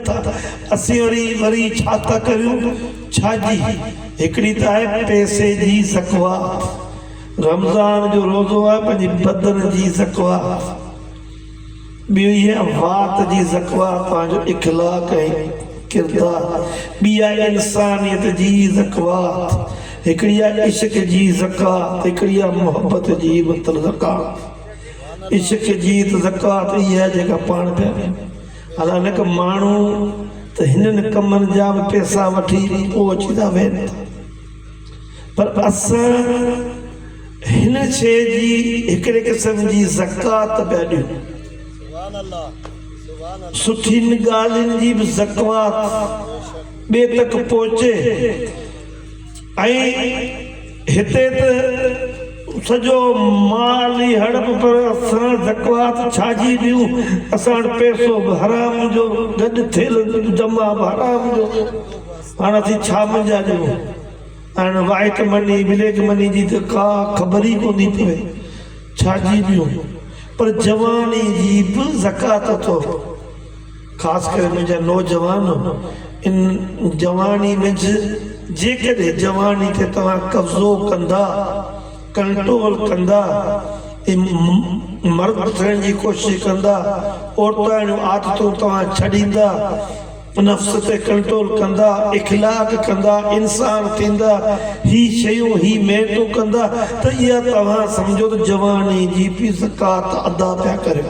ٿا اسين وري وري ڇا ٿا ڪريون ڇا جي هڪڙي ته آهي پئسي جي زڪوات رمضان جو روزو آهي پنهنجي بدن جي زڪوات ٻيو هي وات جي زڪوات پنهنجو اخلاق ۽ ڪردار ٻي آهي انسانيت جي زڪوات هڪڙي آهي عشق جي زڪوات هڪڙي آهي محبت جي مطلب زڪوات عشق جي زڪوات اها جيڪا پاڻ پيا ڏيون الا لک ماڻهو ته هنن ڪمن جا به پيسا وٺي پوء اچي ٿا ويهن ٿا پر اسان هن شيء جي هڪڙي قسم جي زڪوات پيا ڏيون سٺين ڳالهين جي به زڪوات ٻئي تڪ پهچي ائين هتي ته سڄو مال ئي هڙپ پر اسان زڪوات ڇاجي ڏيون اسان وٽ پئسو به حرام جو گڏ ٿيل جمع به حرام جو هاڻ اسين ڇا منجهان ڏيون هاڻ وائيٽ مني بليڪ مني جي ته ڪا خبر ئي ڪونٿي پوي ڇاجي ڏيون پر جواني جي به زڪوات اٿو. خاص ڪري منهنجا نوجوان ان جواني منجھ جيڪڏهن جواني تي توهان قبضو ڪندا ڪنٽرول ڪندا ۽ مرد ٿيڻ جي ڪوشش ڪندا عورتاڻيون عادتون توهان ڇڏيندا نفس تي ڪنٽرول ڪندا اخلاق ڪندا انسان ٿيندا هي شيون هي محنتون ڪندا ته اها توهان سمجهو ته جواني جي به زڪوات ادا پيا ڪريو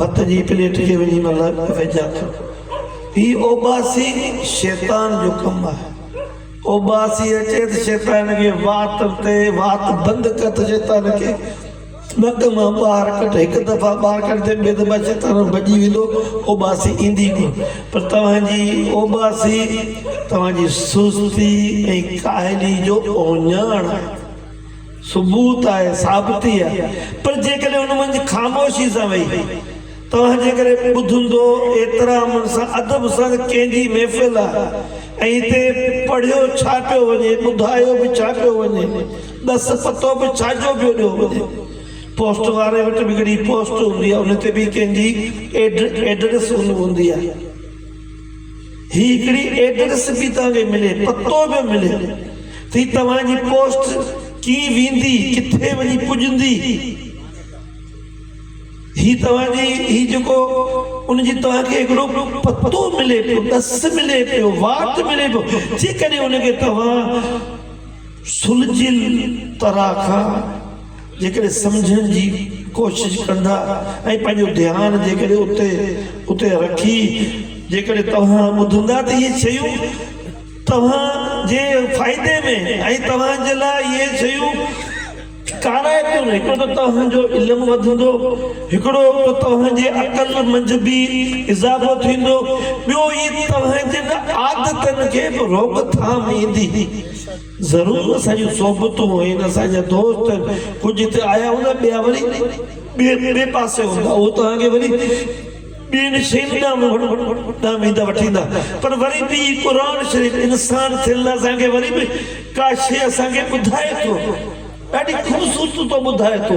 ڀت جي پليٽ کي وجهي مل ويجها ٿيو. هي اوٻاسي شيطان جو ڪم آهي. اوٻاسي اچي ته شيطان کي وات تي وات بند ڪر ته شيطان کي ٻڪ مان ٻاهر ڪڍ. هڪ دفعا ٻاهر ڪڍي ٻي دفعا شيطان ڀڄي ويندو اوٻاسي ايندي ڪونه. پر توهان جي اوٻاسي توهان جي سستي ۽ ڪاهلي جو اوڃاڻ آهي. ثبوت آهي، ثابتي آهي، پر جيڪڏهن ان منجهه خاموشي سان ويهي توهان جي ڪري ٻڌندو احترام سان ادب سان ته ڪنهن جي محفل آهي ۽ هتي پڙهيو ڇا پيو وڃي ٻڌايو به ڇا پيو وڃي ڏس پتو به ڇا جو پيو ڏيو وڃي پوسٽ واري وٽ به هڪڙي پوسٽ هوندي آهي ان تي به ڪنهن جي ايڊريس هوندي آهي. هي هڪڙي ايڊريس به توهان کي ملي پتو به ملي ٿي توهان جي پوسٽ ڪيئن ويندي ڪٿي وڃي پڄندي هي توهان جي هي جيڪو ان جي توهان کي هڪڙو پتو ملي پيو ڏس ملي پيو واٽ ملي پيو جيڪڏهن ان کي توهان سلجهيل طرح کان جيڪڏهن سمجهڻ جي ڪوشش ڪندا ۽ پنهنجو ڌيان جيڪڏهن اتي اتي رکي جيڪڏهن توهان ٻڌندا ته اهي شيون توهان جي فائدي ۾ ۽ توهان جي لاء اهي شيون ڪارائتون هڪڙو ته توهان جو علم وڌندو هڪڙو ته توهان جي عقل منجهه به اضافو ٿيندو ٻيو اهي توهان جن عادتن کي به روڪ ٿام ايندي. ضرور اسان جون صحبتون هين، اسان جا دوست هين، ڪجهه هتي آيا هوندا، ٻيا وري ٻئي ٻئي پاسي هوندا، اهو توهان کي وري ٻين شين ڏانهن ويندا وٺيندا، پر وري به هي قرآن شريف انسان ٿيل اسان کي وري به ڪا شيء اسان کي ٻڌائي ٿو، ڏاڍي خوبصورتي ٿو ٻڌائي ٿو.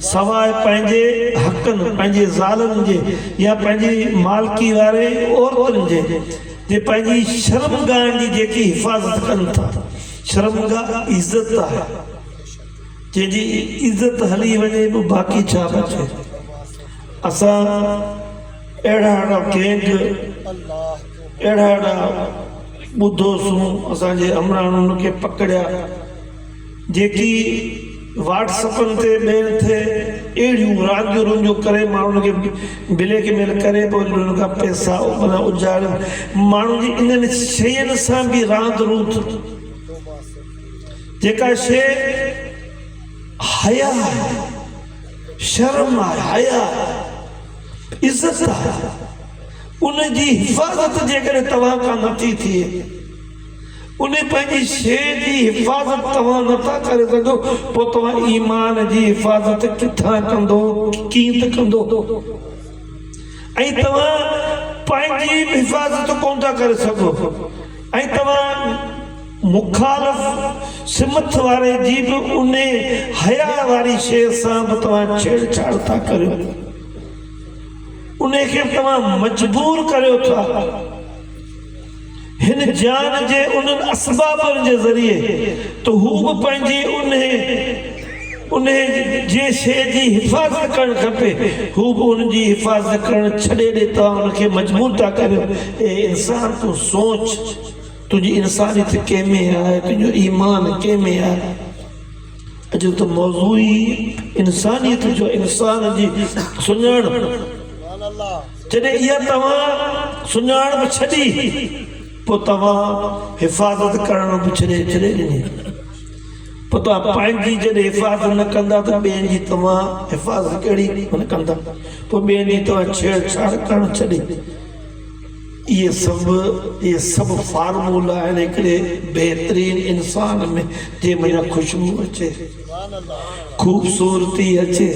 سواء پنهنجي حقن، پنهنجي زالن جي يا پنهنجي مالڪي واري عورتن جي، جي پنهنجي شرمگاهن جي جيڪي حفاظت ڪن ٿا. شرمگاهه عزت آهي، جنهن جي عزت هلي وڃي به باقي ڇا بچي. اسان اهڙا اهڙا گينگ، اهڙا اهڙا ٻڌوسون، اسان جي همراهن ان کي پڪڙيا. جيڪي واٽس اپن تي ميل ٿئي اهڙيون رانديون رونديون ڪري ماڻهن کي بليڪ ميل ڪري پوء انهن کان پئسا اجاري ماڻهن جي انهن شين سان به راند روند جيڪا شي حيا آهي شرم آهي حيا آهي عزت آهي ان جي حفاظت جيڪڏهن توهان کان نٿي ٿئي ان پنهنجي شيء جي حفاظت توهان نه ٿا ڪري سگهو پوء توهان ايمان جي حفاظت ڪٿان ڪندو ڪيئن ته ڪندو ۽ توهان پنهنجي به حفاظت ڪونه ٿا ڪري سگهو ۽ توهان مخالف سمت واري جي به ان حياء واري شيء سان به توهان ڇيڙ ڇاڙ ٿا ڪريو ان کي به توهان مجبور ڪريو ٿا هن جيان جي انهن اسبابن جي ذريعي ته هو به پنهنجي انهي انهي جي شيء جي حفاظت ڪرڻ کپي، هو به ان جي حفاظت ڪرڻ ڇڏي ڏي توهان ان کي مجبور ٿا ڪريو. اي انسان تون سوچ تنهنجي انسانيت ڪنهن ۾ آهي، تنهنجو ايمان ڪنهن ۾ آهي. اڄ ته موضوع ئي انسانيت جو انسان جي سڃاڻپ. جڏهن اها توهان سڃاڻپ ڇڏي، پوء توهان حفاظت ڪرڻ به ڇڏي ڇڏي ڏني. پوء توهان پنهنجي جڏهن حفاظت نه ڪندا ته ٻين جي توهان حفاظت ڪهڙي من ڪندا؟ پوء ٻين جي توهان ڇيڙ ڇاڙ ڪرڻ ڇڏي. اهي سڀ اهي سڀ فارمولا آهن هڪڙي بهترين انسان ۾ جنهن منجهان خوشبو اچي، خوبصورتي اچي.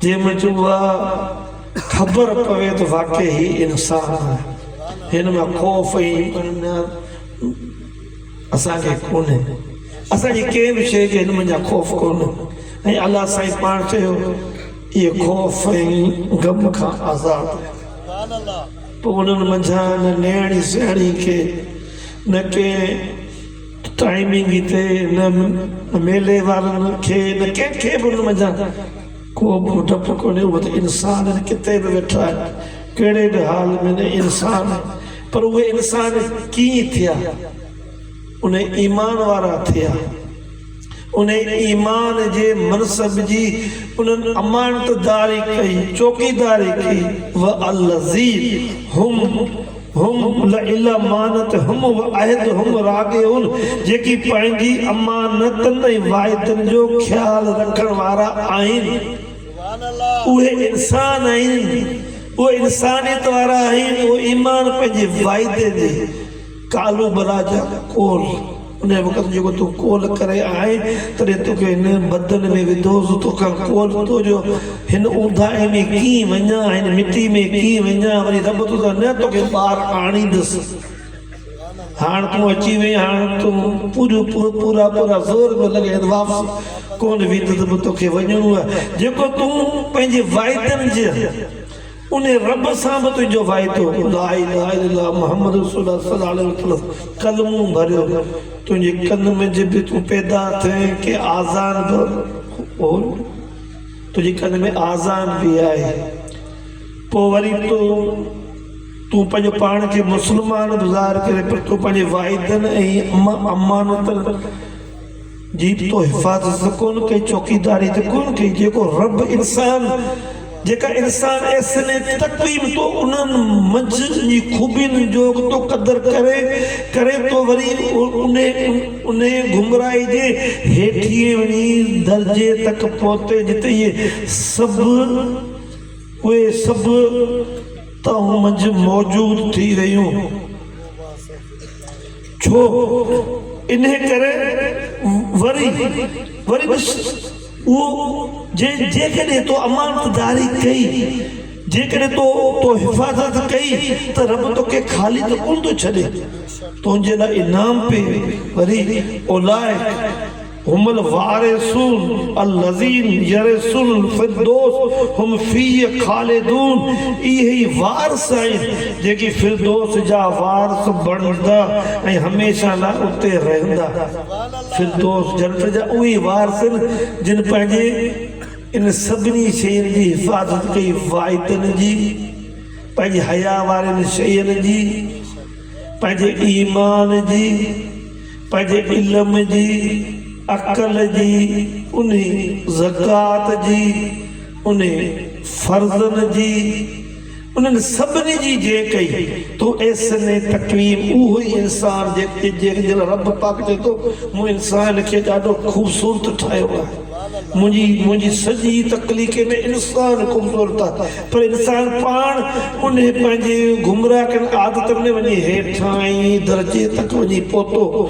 جنهن منهنجي اها خبر پوي ته واقعي هي انسان آهي هن مان خوف ۽ بنياد اسان کي ڪونهي اسان جي ڪنهن به شيء جي هن منجهان خوف ڪونهي ۽ الله سائين پاڻ چيو اهي خوف ۽ غم کان آزاد آهن پوء انهن منجهان نه نيڻي سياڻي کي نه ڪنهن ٽائمنگ تي نه ميلي وارن کي نه ڪنهن کي به ان منجهان ڪو به ڊپ ڪونهي اهو ته انسان آهن ڪٿي به ويٺا آهن ڪهڙي به حال ۾ نه انسان آهن پر اهي انسان ڪيئن ٿيا ان ايمان وارا ٿيا انهيء ايمان جي منصب جي انهن امانتداري ڪئي، چوڪيداري ڪئي، والذي هم هم لامانتهم وعهدهم راعون، جيڪي پنهنجي امانتن ۽ واعدن جو خيال رکڻ وارا آهن، اهي انسان آهن، اهي انسانيت وارا آهن، اهي ايمان پنهنجي واعدي جي. ڪالهه بلا جا ڪول، انهيء وقت جيڪو تون ڪول ڪري آئي، تڏهن توکي هن بدن ۾ وڌو هوس، توکان ڪول ٿيو جو هن اونداهي ۾ ڪيئن وڃان، هن مٽي ۾ ڪيئن وڃان، وري رب ٿو ته نه توکي ٻاهر آڻيندس. هاڻ تون اچي وئين، هاڻ تون پوريون پورا پورا زور پيو لڳائين ته واپس ڪونه ويندس، توکي وڃڻو آهي، جيڪو تون پنهنجي وعدن جي. انهي رب سان به تنهنجو وعدو لا اله الا الله محمد رسول الله صلي الله عليه وسلم ڪلمون ڀريو تنهنجي ڪن منجهه به تون پيدا ٿئين ڪي آذان به هون تنهنجي ڪن ۾ آذان به آهي پوء وري تو تون پنهنجو پاڻ کي مسلمان به ظاهر ڪري پر تون پنهنجي وعدن ۽ امانتن جي به تو حفاظت ڪون ڪئي چوڪيداري ته ڪون ڪئي جيڪو رب انسان جيڪا انسان احسن تقويم تو انهن منجهه جي خوبين جو تو قدر ڪري ڪري تو وري انهي گمراهي جي هيٺين وڃي درجي تڪ پهتي جتي اهي سڀ اهي سڀ تون منجهه موجود ٿي رهيون ڇو انهي ڪري وري وري ڏس اهو جي جيڪڏهن تو امانت داري ڪئي جيڪڏهن تو تو حفاظت ڪئي ته رب توکي خالي ته ڪونه ٿو ڇڏي تنهنجي لاء انعام پي وري اولئڪ هم الوارثون الذين يرثون الفردوس هم فيه خالدون اهي ئي وارث آهن جيڪي فردوس جا وارث بڻجندا ۽ هميشه لاء اتي رهندا. فردوس، جنت، جا اهي وارث آهن جن پنهنجي ان سڀني شين جي حفاظت ڪئي واعدن جي، پنهنجي حيا وارين شين جي، پنهنجي ايمان جي، پنهنجي علم جي، عقل جي، انهي زڪوات جي، انهي فرضن جي، انهن سڀني جي جي ڪئي تو احسن تقويم اهو ئي انسان جي جنهن جي لاء رب پاڪ چئي ٿو مون انسان کي ڏاڍو خوبصورت ٺاهيو آهي منهنجي منهنجي سڄي تخليقي ۾ انسان خوبصورت آهي پر انسان پاڻ انهي پنهنجي گمراهه ڪن عادتن ۾ وڃي هيٺانهين درجي تڪ وڃي پهتو